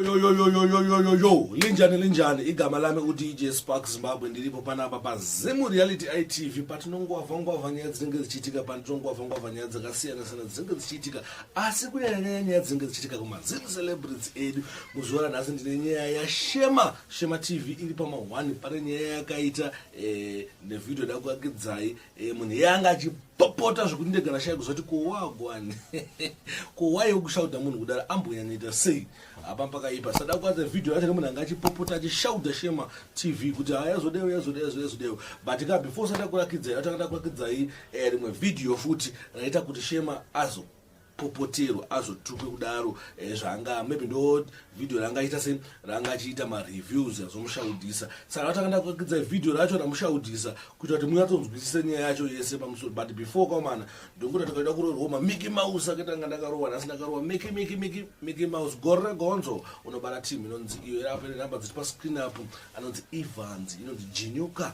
yoyoyoyoyoyoyo linjani linjani igama lami udj spark zimbabwe ndiripo panapa pazimu reality itv patinongwavhangwavha nyaya dzinenge dzichiitika patinongwavhangwavha nyaya dzakasiyana-siyana dzinenge dzichiitika asi kunyanyanyaya nyaya dzinenge dzichiitika kumazimu celebrity edu muzuva ranhasi ndine nyaya yashema shema tv iri pamahwani pane nyaya yakaita Eh, nevhidhiyo da kuakidzai eh, munhu iye anga achipopota zvekuti ndega ndashaya kuzoti kowagwani kowaiwo kushauda munhu kudaro ambonyanyaita sei apa pakaipa sada kuadza vhidhiyo yacho nemunhu anga achipopota achishauda shema tv kuti ha yazodewo yazodewo yazodewo yazodewo but ka before sada kurakidzai atanga takurakidzai eh, rimwe vhidhiyo futi raita kuti shema azo popotero azotukwe kudaro eh, zvanga maybe ndo video ranga aita se ranga achiita mareviews azomushaudhisa saka vatakanda kuakidza video racho ramushaudhisa kuita kuti munyatsonzwisise nyaya yacho yese pamusoro but before kwamana ndonguti takaita kuroorwa mamiki mouse akaita nga ndakarowa nhasi ndakarowa miki miki miki miki mouse gore regonzo unobara team inonzi iyo irapo ine number dziri pascreen apo anonzi evans inonzi jinyuka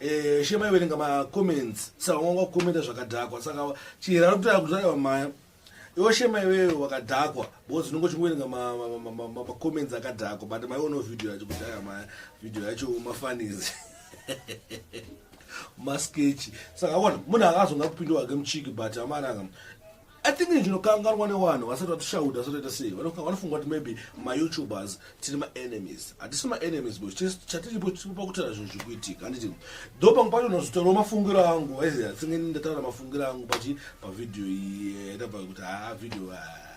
Eh, shema iverenga macomments saka wanga wakukomenta zvakadhakwa saka chihera ari kutaura kuti aiwa maya iwo shema iweyo wakadhakwa because unenge uchingoverenga macomments akadhakwa but maiono video yacho kuti aiwa maya video yacho mafanizi maskechi saka akona munhu akazonga kupinda wake muchiki but amaranga I think ndinokanganwa nevanhu vasati vatishaudha vasati vaita sei vanofunga kuti maybe mayoutubers tiri maenemies hatisi maenemies bo chatiripo tiripo pakutaura zvinhu zviri kuitika handiti do pamwe pacho unozotaurawo mafungiro angu aizi atsinge ndataura mafungiro angu pachi pavhidhiyo iyi yatava eh, kuti haa ah, vhidhiyo ah,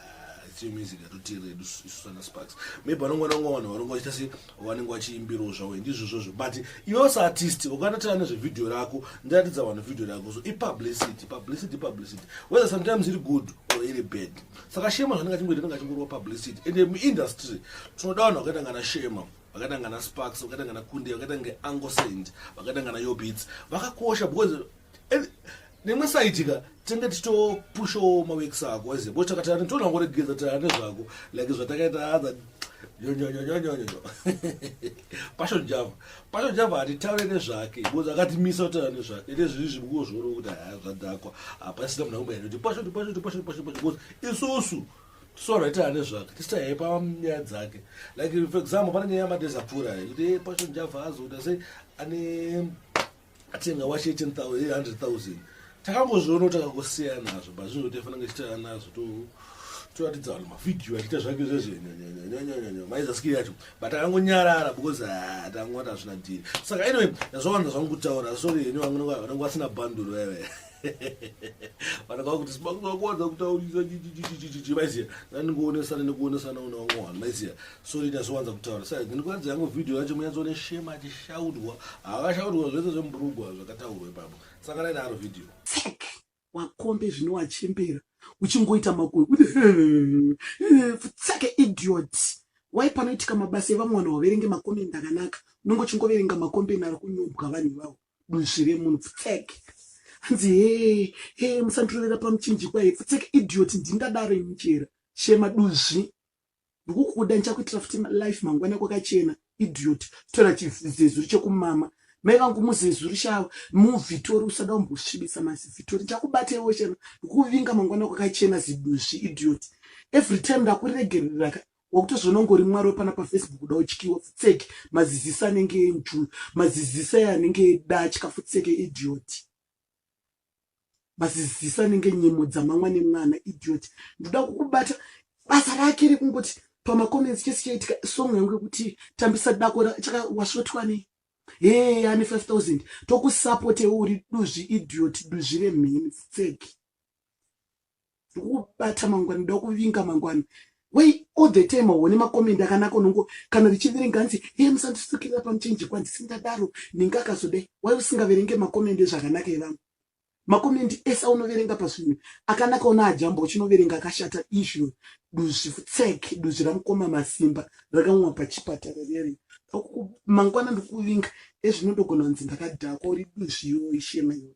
tiyo music yatotiredu isu sana sparks maybe vanongwana ngwa vanhu varonga vachita sei vanenge vachiimbirawo zvavo ndizvo zvozvo but iwe saartist ukanatira nezvevhidhiyo rako ndiratidza vanhu vhidhiyo rako so ipublicity publicity publicity whether sometimes iri good or iri bad saka shema zvanenge achingoita anenge achingorova publicity and muindustry tinoda vanhu vakaita ngana shema vakaita ngana sparks vakaita ngana kunde vakaita ngeangosaint vakaita ngana yobits vakakosha because nemwe saitika tenge tichitopushawo maweeks ako aziva bcause takatana tinoona ngoregeza tana nezvako like zvatakaita hadha nyonyonyonyonyonyo pasho java pasho java hatitaure nezvake bcause akatimisa kutaura nezvake ite zviri zvimukuwo zvoona kuti haya zvadhakwa hapasina munhu akumbaira kuti pasho pasho pasho pasho pasho bcause isusu sora ita ane zvake tisita yaipa nyaya dzake like for example pane nyaya yamadhezi apfuura kuti eh, pasho java azoda sei ane atenga wache 100000 takangozviona kuti akangosiya nazvo but zvinhu kuti afanira kuchitana nazvo to toratidza vanhu mavhidhiyo achiita zvake zvezvenyanyanyanyanyanya maizaskiri yacho but akangonyarara because ah, tangowata zvina dhiri saka anyway ndazvawanza zvangu kutaura sorry henyu vangu vanenge vasina banduro yavaya vana kava kuti simakuvakuwanza kutaurisa chichichichichichi maiziva ndandingowonesana nekuwonesana una vamwe vanhu maiziva sori ndasowanza kutaura sa ndinikuratidza yangu vhidhiyo yacho munyatsone shema achishaudwa havashaudwa zvese zvemburugwa zvakataurwa ipapo saka naidaro vhidhiyo tsek wakombe zvino wachembera uchingoita makoe kuti tseke idiot wai panoitika mabasa evamwe vanhu waverenge makomende akanaka unenge uchingoverenga makombeni ari kunyobwa vanhu ivavo duzvi remunhu pfutsek hanzi hee hee musandirovera pamuchinjikwa hee pfutsek idiot ndingadaro ini chera shema duzvi ndikukuda ndichakuitira futi life mangwana kwakachena idiot tora chizezuri chekumama mai vangu muzezuri shava muvhitori usada umbosvibisa mazivhitori ndichakubateiwo shema ndikuvinga mangwana kwakachena ziduzvi idiot every time ndakuregereraka Wakutozviona ungori mwari wepana pafacebook kuda utyiwa futseke mazizisa anenge enjuu mazizisa e anenge edatya futseke idiot mazizisa anenge nyimo dzamamwa nemwana idiot ndoda kukubata basa rake rekungoti pamacomments chese chaitika song yangu yekuti tambisa dako chakawasvotwa nei hee ane 5000 tokusapotewo uri duzvi idiot duzvi remheni futseke ndokubata mangwana ndoda kuvinga mangwana wei all the time hone makomendi akanaka unongo kana richiverenga hanzi hee musandisukirira pamuchenji kwanzi sindadaro ninge akazodai wai usingaverenge makomendi ezvakanaka evamwe makomendi ese aunoverenga pazvinhu akanaka una ajamba uchinoverenga akashata izvo duzvi tsek duzvi ramukoma masimba rakamwa pachipatara riyari mangwana ndikuvinga ezvinodogona kunzi ndakadhakwa uri duzvi yoo ishema yoo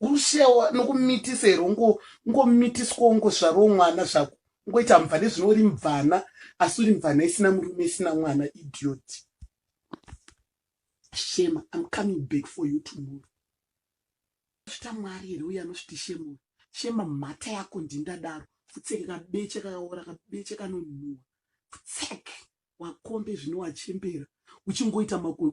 Urushewa nokumitisa here ungo ungomitiswa ungozvarwo mwana zvako ungoita mvana zvino uri mvana asi uri mvana isina murume isina mwana idiot shema I'm coming back for you tomorrow zvita mwari here uye anozviti shema shema mhata yako ndindadaro futseke kabeche kakaora kabeche kanonhuwa futseke wakombe zvino wachembera uchingoita makoe